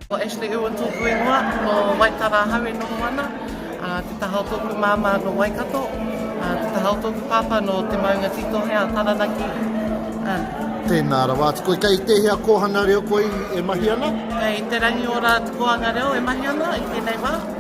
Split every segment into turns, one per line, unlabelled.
Ko Ashley Ewa tōku ingoa, ko Waitara ahau e noho ana, te taha o tōku māmā no Waikato, te taha o tōku pāpā no Te Maunga Tītohe a Taranaki. Tēnā rawa atu koe. Kei tēhea kōhanga reo koe e mahi ana? Kei Te Rangiora atu kōhanga reo e mahi ana i tēnei wā.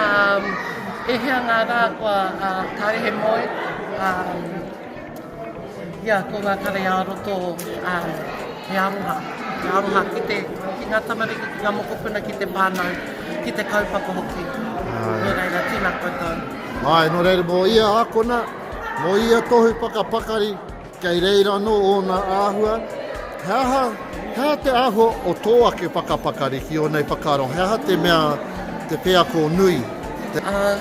Um, e hea ngā rā kua uh, kārehe moe, um, ia ko ngā kare ā roto um, he aroha, he aroha ki, te, ki ngā tamariki, ki ngā mokopuna, ki te whānau, ki te kaupapa hoki. Ai. Nō reira, tēnā koutou. Ai, nō reira, mō ia ākona, mō ia tohu pakapakari, Kei reira anō ōna āhua. He aha, he aha te āhua o tō ake whakapakari ki ōnei whakaaro? He aha te mea, te wheako nui, te. Ā,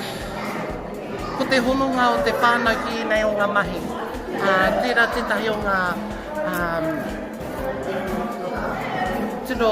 ko te hononga o te whānau ki ēnei o ngā mahi. Ā, tērā tētahi o ngā, ā, tino.